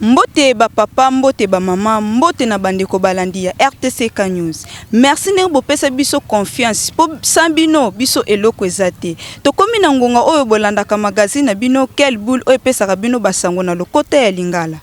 mbote bapapa mbote bamama mbote na bandeko balandi ya rtck news merci ndenge bopesa biso confiance mpo sa bino biso eloko eza te tokomi na ngonga oyo bolandaka magazine na bino quel boule oyo epesaka bino basango na lokota ya lingala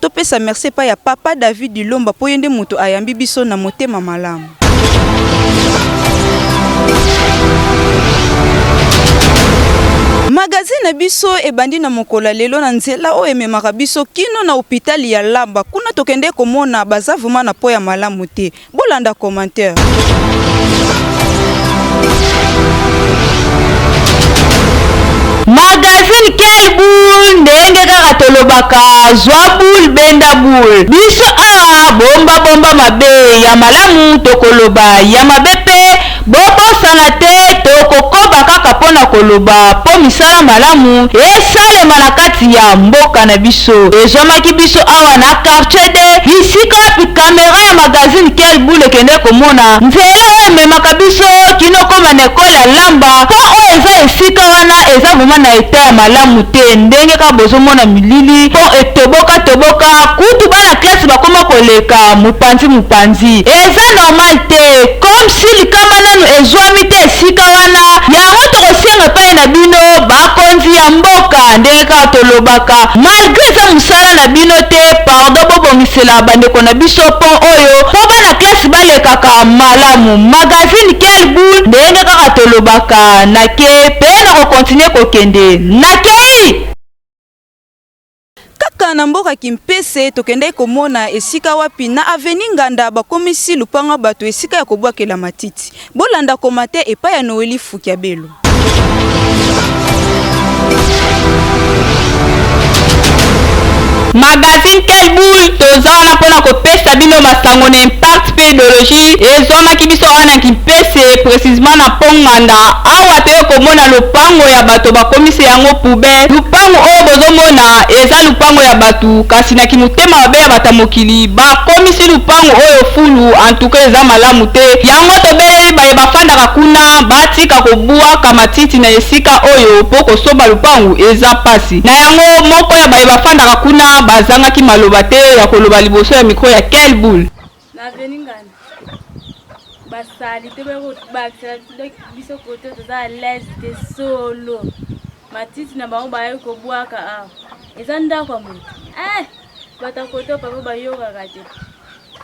Topesa merci epai ya Papa David Dilomba mpo ye nde moto ayambi biso na motema malamu. Magazine na biso ebandi na mokolo ya lelo na nzela oyo ememaka biso kino na hopitali ya Laba. Kuna tokende komona baza vrema na mpo ya malamu te. Bolanda commentaire. Magazine quel boule ndenge kaka tolobaka zwa boule benda boule biso awa bomba bomba mabe ya malamu tokoloba ya mabe pe Bobosana te tokokoba kaka mpo na koloba mpo misala malamu esalema na kati ya mboka na biso. Ezwamaki biso awa na Quartier de, bisika wapi camera ya magazine Quelle Boule ekendeki komona nzela oyo ememaka biso kino koma na Ecole ya Lamba mpo oyo eza esika wana eza vraiment na etat ya malamu te ndenge kaka bozomona milili mpo etoboka toboka kutu bana classe bakoma koleka mopanzi mopanzi eza normal te comme si likama nanu ezuami te esika wana yango tokosenga epai na bino ba konzi ya mboka ndenge kaka tolobaka malgre eza musala na bino te pardon bobongisela ba ndeko na biso pont oyo po bana classe balekaka malamu magazine quel boule ndenge kaka tolobaka nake pe nako continuer kokende nakei Kaka na mboka Kimpese, tokendaki komona esika wapi na avenue Nganda bakomisi lupango ya bato esika ya kobwakela matiti. Bolanda commentaire epai ya Noelie Fukiabelo. Magazine Quelle Boule toza wana pona kopesa bino masango na impact mpe ideoloji ezwamaki biso awa na Kimpese, precisement na Pont Nganda, awa toye komona lopango ya bato bakomisi yango poubelle. Lupangu oyo bozo mona eza lupango ya batu kasi na kimotema mabe ya bata mokili bakomisi lupangu oyo fulu en tout cas eza malamu te yango tobeleli baye bafandaka kuna batika kobuaka matiti na esika oyo mpo kosomba lupangu eza pasi na yango moko ya baye bafandaka kuna bazangaki maloba te ya koloba liboso ya micro ya Kel Boule. na avenue ngana basali te bakobakisela biso kote toza alaise te solo matiti na bango bayaki kobwaka awa eza ndako ya moto eh, bato ya kote papa bayokaka te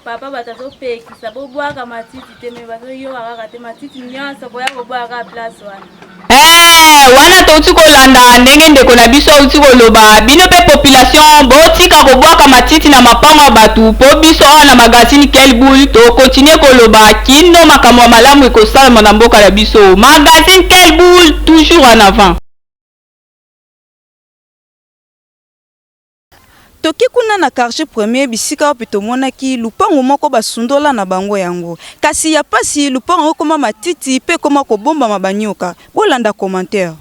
papa bato azopekisa bobwaka matiti Teme bazo yoka kaka te matiti nyonso boya koboya kaka place wana. Eh, wana touti kolanda ndenge ndeko na biso auti koloba bino mpe population botika kobwaka matiti na mapango ya bato mpo biso awa na magazine kelbul tokontinue koloba kino makambo ya malamu ekosalama na mboka na biso magazine kelbul toujours en avant Toki kuna na quartier premier bisika wapi tomonaki lupangu moko basundola na bango yango. Kasi ya pasi lupangu yango ekoma matiti pe ekoma kobombama ba nyoka. Bolanda commentaire.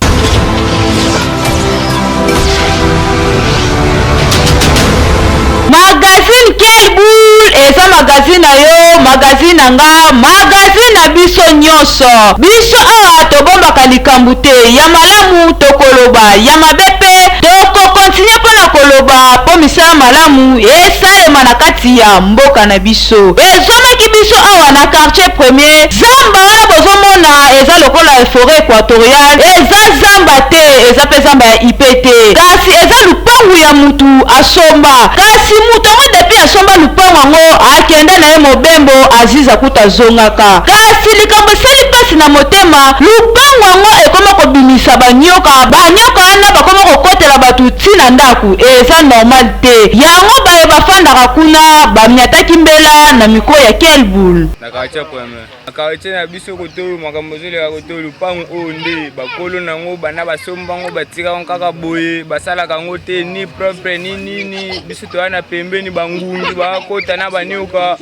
Magazine quelle boule eza magazine na yo magazine na nga magazine na biso nionso biso awa tobombaka likambu te ya malamu tokoloba ya mabe pe toko Tina mpo na koloba mpo misala malamu esalema na kati ya mboka na biso ezomaki biso awa na quartier premier. Zamba wana bozomona eza lokola foret equatoriale eza zamba te eza mpe zamba ya IP te kasi eza lupangu ya mutu asomba kasi mutu yango depuis asomba lupangu yango akenda na ye mobembo aziza kutu azongaka kasi likambo esali mpasi na motema lupangu yango ekoma kobimisa banyoka banyoka wana bakoma kokota kobetela bato ti na ndako eza normal te yango baye bafandaka kuna bamiataki mbela na mikro ya kelbul na quartier premier na quartier na biso kotoyo makambo ezoleka kotoyo lupango oyo nde bakolo na yango banda basomba yango batika yango kaka boye basalaka yango te ni propre ni nini biso toya na pembeni bangungi bakota na banioka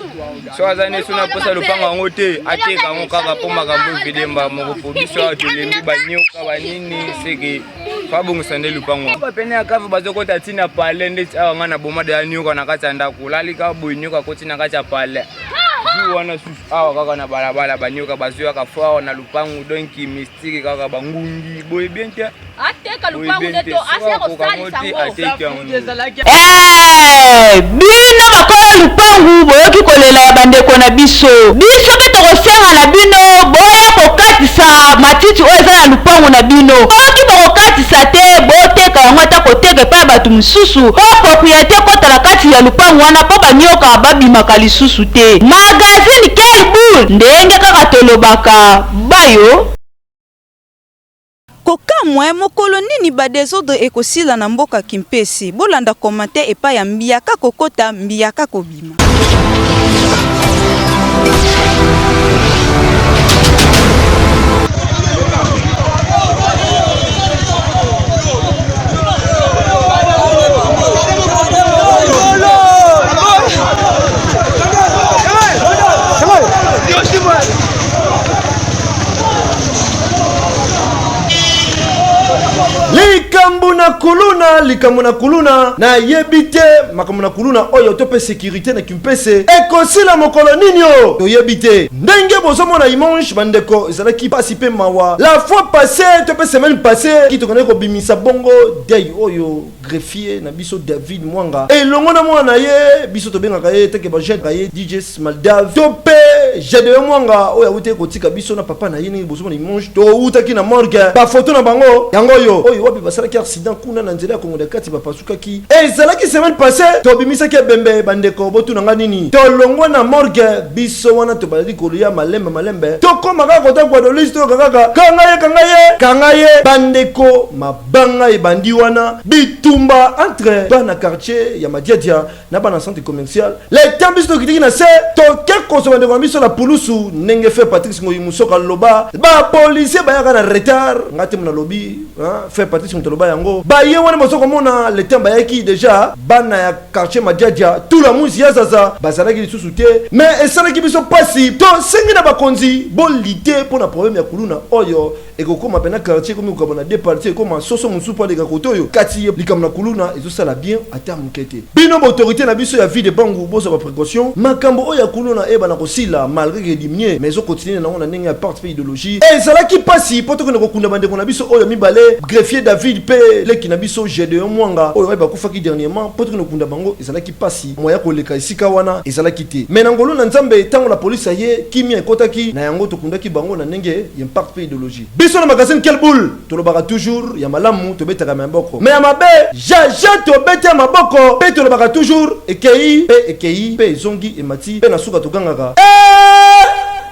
so aza neso na mposa lupango yango te ateka yango kaka mpo makambo evidemba moko mpo biso awa tolembi banioka banini seke fabongisa nde lupango ba pene ya kave bazokota ti na pale ndeti awa ngai na boma deya nioka na kati ya ndako olalika boye nioka akoti na kati ya pale jour wana susu awa kaka na balabala banioka bazoyaka fort na lupangu donc mystique kaka bangungi boye bien te ateka lupangu nde to asia kosalisa ngo Eeh bino bakola lupangu boyoki kolela ya bandeko na biso biso pe tokosenga na bino boya kokatisa matiti oyo eza na lupangu na bino soki bokokatisa te boteka yango ata koteka epai ya batu mosusu po propriete ekota na kati ya lupangu wana po ba nioka ba bimaka lisusu te magazine quelle boule ndenge kaka tolobaka bayo Kokamwa eh mokolo nini ba desordre ekosila na mboka kimpese bolanda commentaire epai ya mbiaka kokota mbiaka kobima. likambo na kuluna likambo na kuluna nayebi te makambo na kuluna oyo to mpe sekirite na kimpese ekosila mokolo nini o toyebi te ndenge bozomona imange bandeko ezalaki mpasi mpe mawa la fois passe to mpe semaine passe kitokendaki kobimisa bongo dei oyo greffier na biso David Mwanga elongo na mwana na ye biso tobengaka ye teke bajete na ye DJ Smaldave to mpe Gedeon Mwanga oyo awuti kotika biso na papa na ye ndenge bozomona image towutaki na morgue bafoto na bango yango oyo oyo wapi basalaki accident kuna na nzela ya Kongo de kati bapasukaki ezalaki semaine passée tobimisaki ebembe bandeko botuna nga nini tolongwa na morgue biso wana tobalali koluya malembe malembe tokoma kaka kota Guadeloupe toyoka kaka kanga ye kanga ye kanga ye bandeko ma Banga ebandi wana bitumba entre bana quartier ya Madiadia na bana centre commercial leta biso tokitaki na se toke kozwa ndeko na biso na pulusu ndenge fe Patrice Ngoyi Musoka loba ba policiers bayaka na retard nga te mona lobi fe Patrice moto loba yango baye wana bozo komona le temps bayaki deja bana ya quartier Madiadia tout la muzi ya zaza bazalaki lisusu te mais esalaki biso pasi tosengi na bakonzi bolite mpo na problème ya kuluna oyo ekokoma pena quartier ekomi kokaba na deux parties ekoma soso mosusu mpo aleka kote oyo kati ye likambo na kuluna ezosala bien ata moke te bino baautorité na biso ya vie de bangu bozwa baprécaution makambo oyo ya kuluna eyebana kosila malgré que ediminie mais ezokontinue na yango na ndenge ya parte mpe idéologie ezalaki mpasi mpo tokende kokunda bandeko na biso oyo mibale greffier david mpe leki na biso gedeon mwanga oyo baye bakufaki dernièrement mpo tokende kokunda bango ezalaki Pasi moyen ya koleka esika wana ezalaki te mais na ngolu na nzambe tango la police aye kimia ekotaki na yango tokundaki bango na ndenge y'impact pe ideologie biso na magazine quel boule tolobaka toujours ya malamu tobetaka ma boko mais ya mabe ja ja tobeti ya maboko pe tolobaka toujours ekeyi pe ekeyi pe ezongi emati pe na suka togangaka eeeeh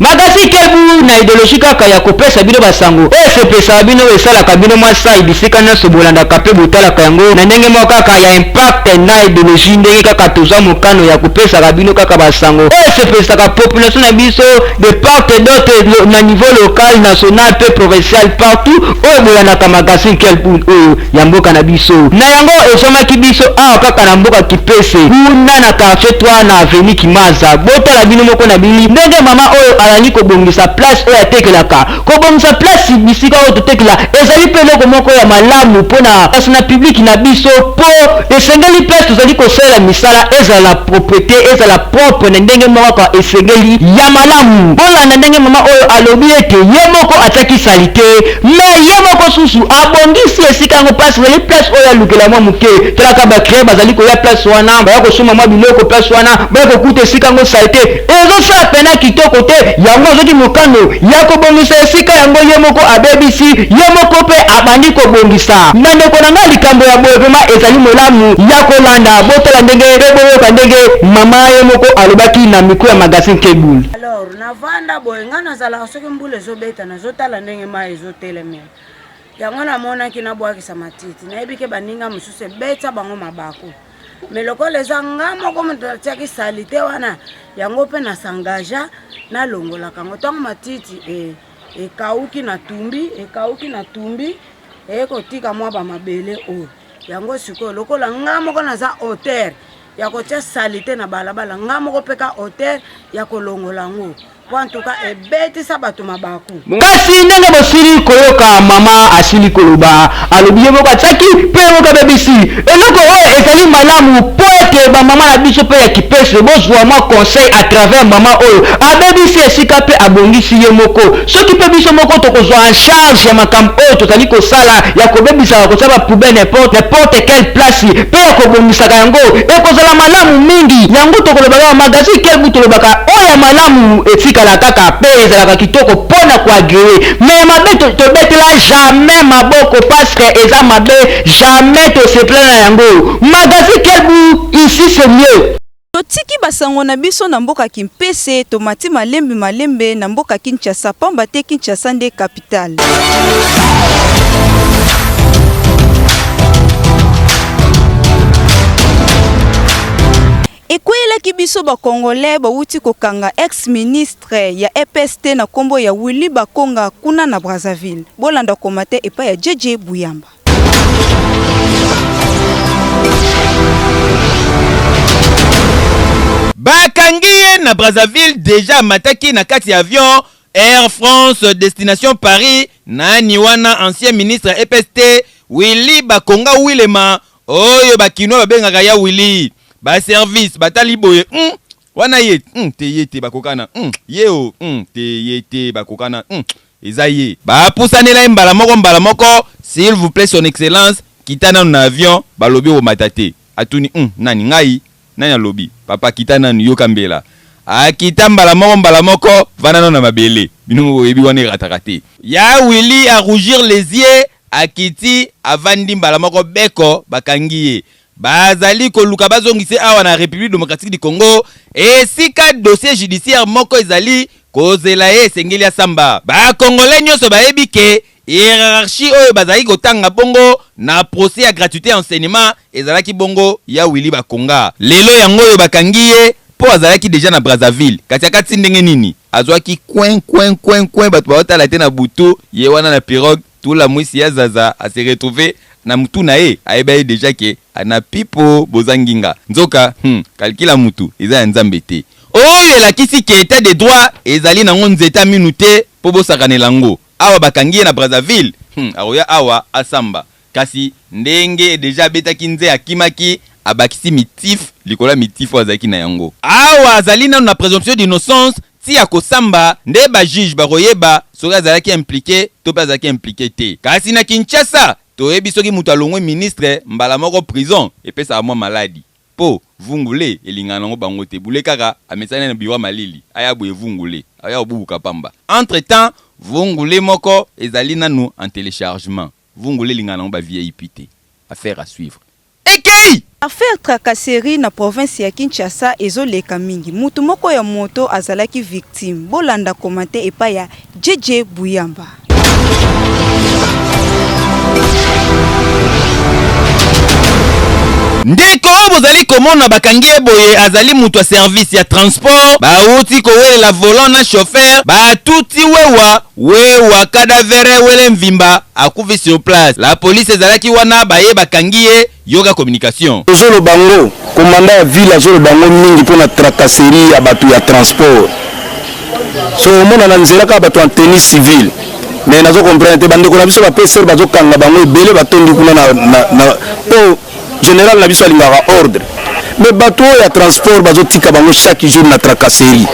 makasi kebu na ideologie kaka ya kopesa bino basango oyo esepesaka bino oyo esalaka bino mwa sai bisika nyonso bolandaka mpe botalaka yango na ndenge moko kaka ya impact na ideologie ndenge kaka toza mokano ya kopesaka bino kaka basango oyo esepesaka population na biso de part et d'autre na niveau local national mpe provincial partout oyo bolandaka magazine kelbul oyo ya mboka na biso. Na yango ezwamaki biso awa kaka na mboka Kipese kuna na quartier 3 na avenue Kimaza. Botala bino moko na bili ndenge mama oyo alandi kobongisa place oyo atekelaka. Kobongisa place bisika oyo totekela ezali mpe eloko moko ya malamu mpo na kasi na public na biso mpo esengeli place tozali kosalela misala ezala na proprete, ezala propre na ndenge moko kaka esengeli ya malamu. Bolanda ndenge mama oyo alobi ete ye moko atiaki salite. Mais ye moko susu abongisi esika yango place ezali place oyo alukela mwa moke. Talaka ba clients bazali koya place wana, baya kosomba mwa biloko place wana, baya kokuta esika yango salete ezosala pena kitoko te. Yango azwaki mokano ya kobongisa esika yango, ye moko abebisi, ye moko pe abandi kobongisa. Bandeko na ngai, likambo ya boye vraiment ezali molamu ya kolanda. Botala ndenge pe boyoka ndenge mama ye moko alobaki na micro ya magazine Kbul. Alors navanda boye, ngai nazalaka soki mbula ezobeta na. Nazotala ndenge mayi ezotelemela yango namonaki nabwakisa matiti nayebi ke baninga mosusu ebetya bango mabaku me lokola eza nga moko moto natiaki salite wana yango mpe nasangaja nalongolaka yango ntango matiti e, ekauki na tumbi ekauki na tumbi eye kotika mwa bamabele oyo yango sikoyo lokola nga moko naza auteur ya kotia salite na balabala nga moko mpe ka hotel ya kolongola yango mpo antuka ebetisa bato mabaku kasi ndenge bosili koyoka mama asili koloba alobi ye moko atiaki mpe ye moko abebisi eloko oyo ezali malamu mpo ete bamama na biso mpe ya kipese bozwa mwa conseil à travers mama oyo abebisi esika mpe abongisi ye moko Soki mpe biso moko tokozwa en charge ya makambo oyo tozali kosala ya kobebisaka, kotia ba poubelles n'importe n'importe quelle place mpe ya kobongisaka yango, ekozala malamu mingi. Yango tokolobaka ba magazine quel gout tolobaka oyo ya malamu etikala kaka mpe ezalaka kitoko mpo na ko agreer mais ya mabe tobetela jamais maboko parceque eza mabe jamais tosepela na yango. Magazine quel gout ici c'est mieux. Totiki ba sango na biso na mboka Kimpese tomati malembe malembe na mboka Kinshasa pamba te Kinshasa nde capitale. Ekweyelaki biso ba congolais bawuti kokanga ex ministre ya EPST na kombo ya Willy Bakonga kuna na Brazzaville. Bolanda komate epai ya JJ Buyamba. bakangi ye na brazzaville deja amataki na kati ya avion air france destination paris nani wana ancien ministre ya epst willy bakonga wilema oyo bakinois babengaka ya willy baservice batali boye mm, Wana ye hum te ye te bakokana hum ye oh hum te ye te bakokana hum eza ye. Ba pusanela ye mbala moko mbala moko s'il vous plait son excellence kita nanu na avion balobi okomata te atuni hum nani ngai nani alobi papa kita nanu yoka mbela akita mbala moko mbala moko vanda nanu na mabele bino moko boyebi wana erataka te. Ya Willy a rougir les yeux akiti avandi mbala moko beko bakangi ye Bazali koluka bazongisa ye awa na Republique democratique du Congo esika dossier judiciaire moko ezali kozela ye, esengeli asamba. Ba Congolais nionso bayebi que hierarchie oyo bazalaki kotanga bongo na procès ya gratuite ya enseignement ezalaki bongo ya Willy Bakonga. Lelo yango oyo bakangi ye mpo azalaki dejà na Brazzaville. Kasi akatisi ndenge nini? Azuaki coin, coin, coin, coin, batu baotala te na butu, ye wana na pirogue. Tula muisi ya zaza a se retrouver na mutu na ye ayeba ye dejà que a na pipo boza nginga nzoka hum calcul ya mutu eza ya nzambe te. Oyo elakisi que etat de droit ezali nango nzete ya minu te po bosakanela yango awa bakangi ye na Brazzaville hum akoya awa asamba kasi ndenge dejà abetaki nze akimaki abakisi mitif likolo ya mitif oyo azalaki na yango. Awa azali nanu na presomption d'innocence Ti ako samba nde ba juges bako yeba soki azalaki implique to pe azalaki implique te. Kasi na Kinshasa to yebi soki mutu alongwe ministre mbala moko prison epesaka mwa maladi. Po vungu le elingaka nango bango te. Bule kaka amesani na bureau ya malili aya boye vungu le aya kobubuka pamba. Entre temps vungu le moko ezali nanu en telechargement. Vungule elingaka nango ba VIP te. Affaire à suivre ekeyi! Affaire tracasserie na province ya Kinshasa ezo leka mingi. Mutu moko ya moto azalaki victime. Bo landa commenter epai ya JJ Buyamba. Ndeko oyo bozali komona bakangi ye boye azali mutu ya service ya transport, bawuti kowelela volant na chauffeur, batuti wewa We wa cadavere wele mvimba akufi sur place la police ezalaki wana baye bakangi ye yoka communication. Ozo loba ngo commandant ya ville azo loba ngo mingi pona tracasserie ya batu ya transport so omona na nzela kaka batu en tenue civile mais nazo comprendre te ba ndeko na biso ba pasteurs bazo kanga bango ebele batondi kuna na na po General na biso alingaka ordre. Mais bato oyo ya transport bazotika bango chaque jour na tracasserie.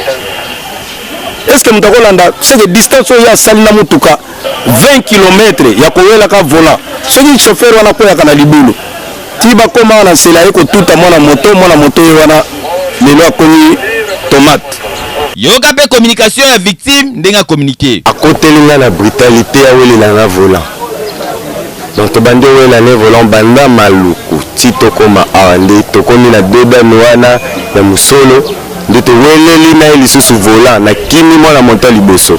Est-ce que moto akolanda ce que distance oyo asali na motuka 20 km ya kowelaka volant soki chauffeur wana akweyaka na libulu ti bakoma na nsela ye kotuta mwana moto mwana moto ye wana lelo akomi tomate yoka mpe communication ya victime ndenge akominike akoteli nga na brutalite ya welela na volant Donc tobandi owe na ne volant banda maluku ti tokoma awa nde tokomi na dodane wana ya mosolo nde toweleli na ye lisusu volant na kimi mwana moto ya liboso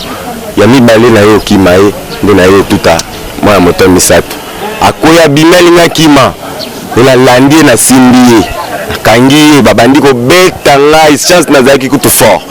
ya mibale na ye okima ye nde na ye otuta mwana moto ya misato akwei abimi alingi akima Pe na landi ye, na simbi ye, na kangi ye, ba bandi ko beta ngai, chance na zalaki kutu fort,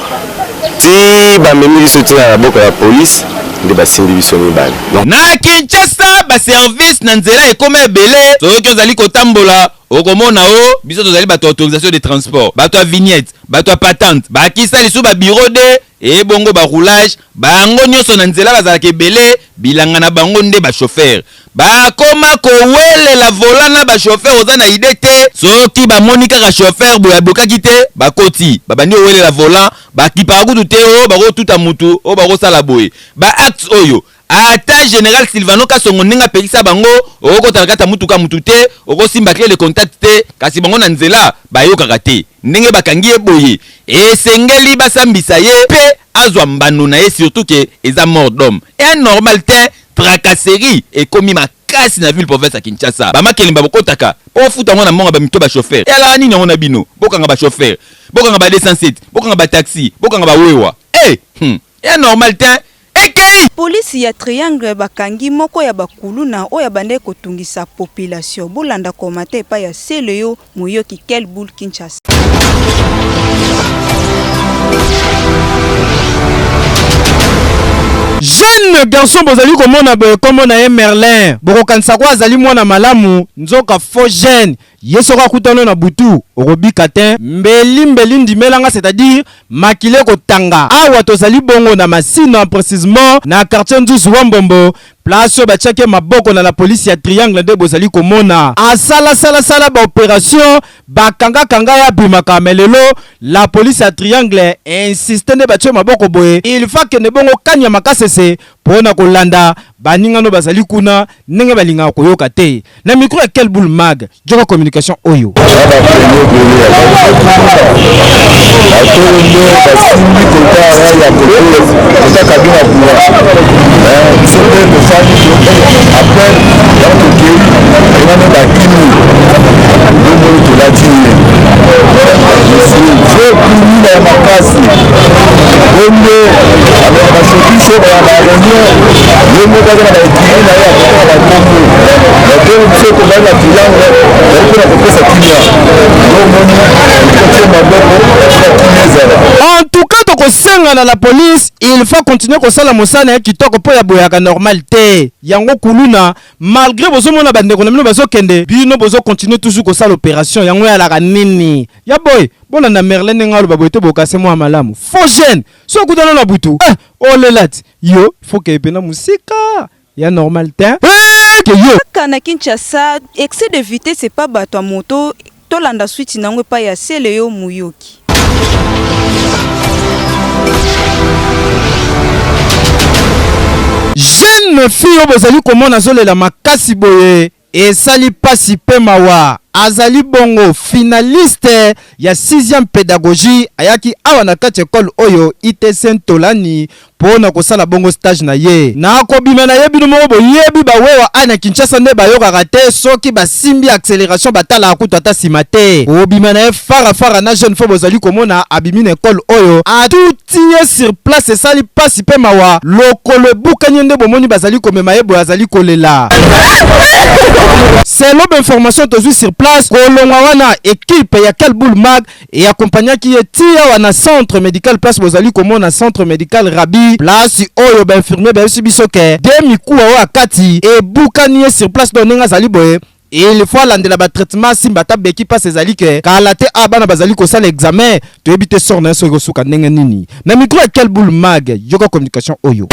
ti ba memi biso ti na maboko ya police, nde ba simbi biso mibale. Na Kinshasa, ba services na nzela ekoma ebele, soki ozali ko tambola, oko mona o, biso tozali bato ya autorisation de transport, bato ya vignette, bato ya patente, bakisa lisusu ba bureaux de. Ee bongo ba roulage bango nioso na nzela bazalaka ebele bilanga na bango nde ba chauffeur ba koma ko welela volant na ba chauffeur oza na idee te soki ba moni kaka chauffeur boye abokaki te ba koti ba bandi ko welela volant ba kipaka kutu te oh bako tuta mutu oh bako sala boye ba actes oyo Ata general Sylvano Kasongo ndenge apekisa bango, okokota na kati ya mutuka ya mutu te, okosimba cle de contact te, kasi bango na nzela bayokaka te. Ndenge bakangi ye boye, esengeli basambisa ye mpe azwa mbano na ye surtout que eza mort d'homme. Un normal tein, tracasserie ekomi makasi na ville province ya Kinshasa. Ba makelemba bokotaka mpo bofuta yango na mbongo ya ba micro ba chauffeur. Eyalaka nini yango na bino? Bokanga ba chauffeur, bokanga ba 207, bokanga ba taxi, bokanga ba wewa. Eh! Hum! Un normal tein. Ekeyi! Police ya triangle bakangi moko ya ba kuluna oyo abandaki kotungisa population bolanda commentaire epai ya celeo moyoki quel boule Kinshasa. Jeune garçon bozali komona boye kombo na ye Merlin bokokanisa ko azali mwana malamu nzoka faux jeune Ye soki akuta no na butu okobika tein. Mbeli mbeli ndimela nga c'est à dire makila eko tanga awa tozali bongo na masina precisement na quartier nzuzu wa mbombo place oyo batiaki ye maboko na la police ya triangle nde bozali komona asala sala sala ba operation ba kanga kanga ye abimaka mais lelo la police ya triangle insiste nde batie maboko boye il faut akende bongo kaniama kasese mpo na kolanda baninga no bazali kuna ndenge balingaka koyoka te na micro ya quel boule mag joka communication oyo makasi bongo basokiso baya bareunion ye moko aza na baekiri na ye akotaka bakombo bakomi biso tozali na triangle ezali mpo na kopesa kimia omoni kotie maboko na kimia ezala en tout cas tokosenga na la police il faut continuer kosala mosala na ye kitoko mpo ya boyaka normal te yango kuluna malgré bozomona bandeko na bino bazokende bino bozocontinue toujours kosala opération yango yalaka nini ya boye Bolanda merlin ndenge aloba boye to bokase mua malamu faux jeune soki okutana na butu eh olelati yo faut que pena musika ya normal te eh que yo Kaka na Kinshasa, excès de vitesse c'est pas bato ya moto, tolanda suite na yango epai ya Celeo Muyoki. jeune fille oyo bozali komona azolela makasi boye Esali pasi pe mawa azali bongo finaliste ya sixième pedagogie ayaki awa na kati ya ecole oyo ITC Ntolani po na kosala bongo stage na ye. Na kobima na ye bino moko boyebi ba wewa awa na Kinshasa nde bayokaka te soki basimbi acceleration batalaka kutu ata sima te. Kobima na ye fara fara na jeune faux bozali komona abimi na ecole oyo à tout tiye sur place esali pasi pe mawa lokolo ebukani ye nde bomoni bazali komema ye boye azali kolela. Selon ba informations tozui sur place kolongwa wana equipe ya Kelbul Mag e accompagnaki ye ti awa na centre medical place bozali komona centre medical Rabi place oyo ba infirmiers bayebisi biso ke de mikuwa oyo akati ebukani ye sur place donc ndenge azali boye Il faut alandela ba traitement asimba ata beki pasi ezali que kala te awa bana bazali kosala examen toyebi te sort nayo soki ekosuka ndenge nini na micro ya quel boule mag yoka communication oyo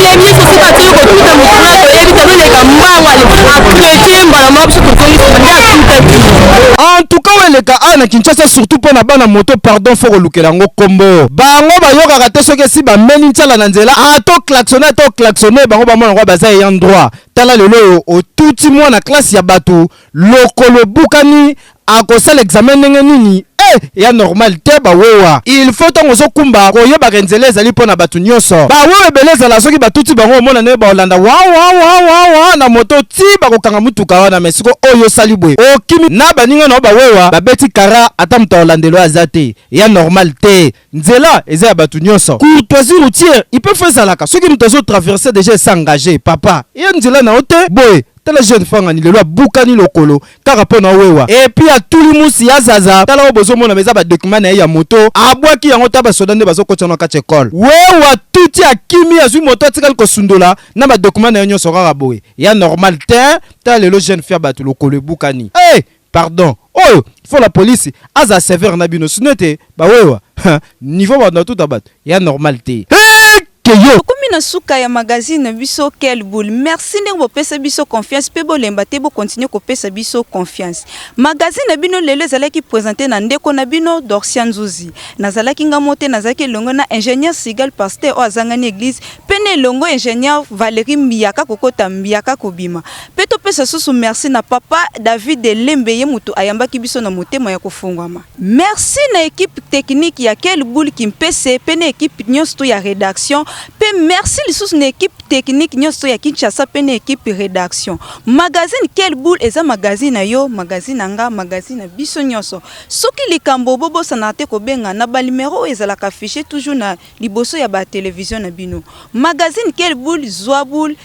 Thank you. tika te kotuta mokuna toyebi te toleka mbango akrete mbala moko biso tozongisa nde atutaki en tout cas weleka a na kinshasa surtout mpo na bana moto pardon fo kolukela yango nkombo bango bayokaka te soki esi bameli nsala na nzela ato klaxone ato klaxone bango bamona kwa baza eyan droit tala lelo oyo otuti mwana klase ya bato Lokolo obukani akosala examen ndenge nini eh ya normal te ba wewa il faut tango ozo kumba koyeba ke nzela ezali pona batu nioso ba wewa ebele ezala soki batuti bango omona ndenge ba olanda wawawawawa na moto ti bako kanga mutuka wana mais siko oyo osali boye okimi na baninga na yo ba wewa ba beti kara ata moto ya olandelo aza te ya normal te. nzela eza ya batu nionso courtoisie routière il peut faire zalaka soki mutu azo traverser déjà esa engagé papa ye nzela na yo te boye tala jeune fangani lelo abukani lokolo kaka pona owewa epuis atuli musi ya zaza tala oyo bozomona eza ba document na ye ya moto abwaki yango ta basoda nde bazokotisa na kati ecole wewa tuti akimi azwi moto atikali kosundola na ba document na yo nyonso kaka boye ya normal te tala lelo jeune fia bato lokolo ebukani hey! Pardon oyo faut la police aza severe na bino sinon ete ba wewa niveau batu na tuta batu ya normal te que yo. Tokomi na suka ya magazine na biso quel boule merci ndenge bopesa biso confiance pe bolemba te bo continuer kopesa biso confiance magazine na bino lelo ezalaki presente na ndeko na bino Dorcia Nzuzi nazalaki nga mote nazalaki elongo na ingenieur Sigal pasteur oyo azangani eglise pe na elongo ingenieur Valerie Mbiaka kokota Mbiaka kobima Mpe topesa lisusu mersi na Papa David Lembe, ye moto ayambaki biso na motema ya kofongwama. Mersi na equipe technique ya Kelbul Kimpese mpe na equipe nionso to ya redaction, mpe mersi lisusu na equipe technique nionso to ya Kinshasa mpe na equipe redaction. Magazine Kelbul eza magazine na yo, magazine na nga, magazine na biso nionso. Soki likambo, bobosanaka te kobenga na ba numero oyo ezalaka affiche toujours na liboso ya ba television na bino. Magazine Kelbul, zua boule.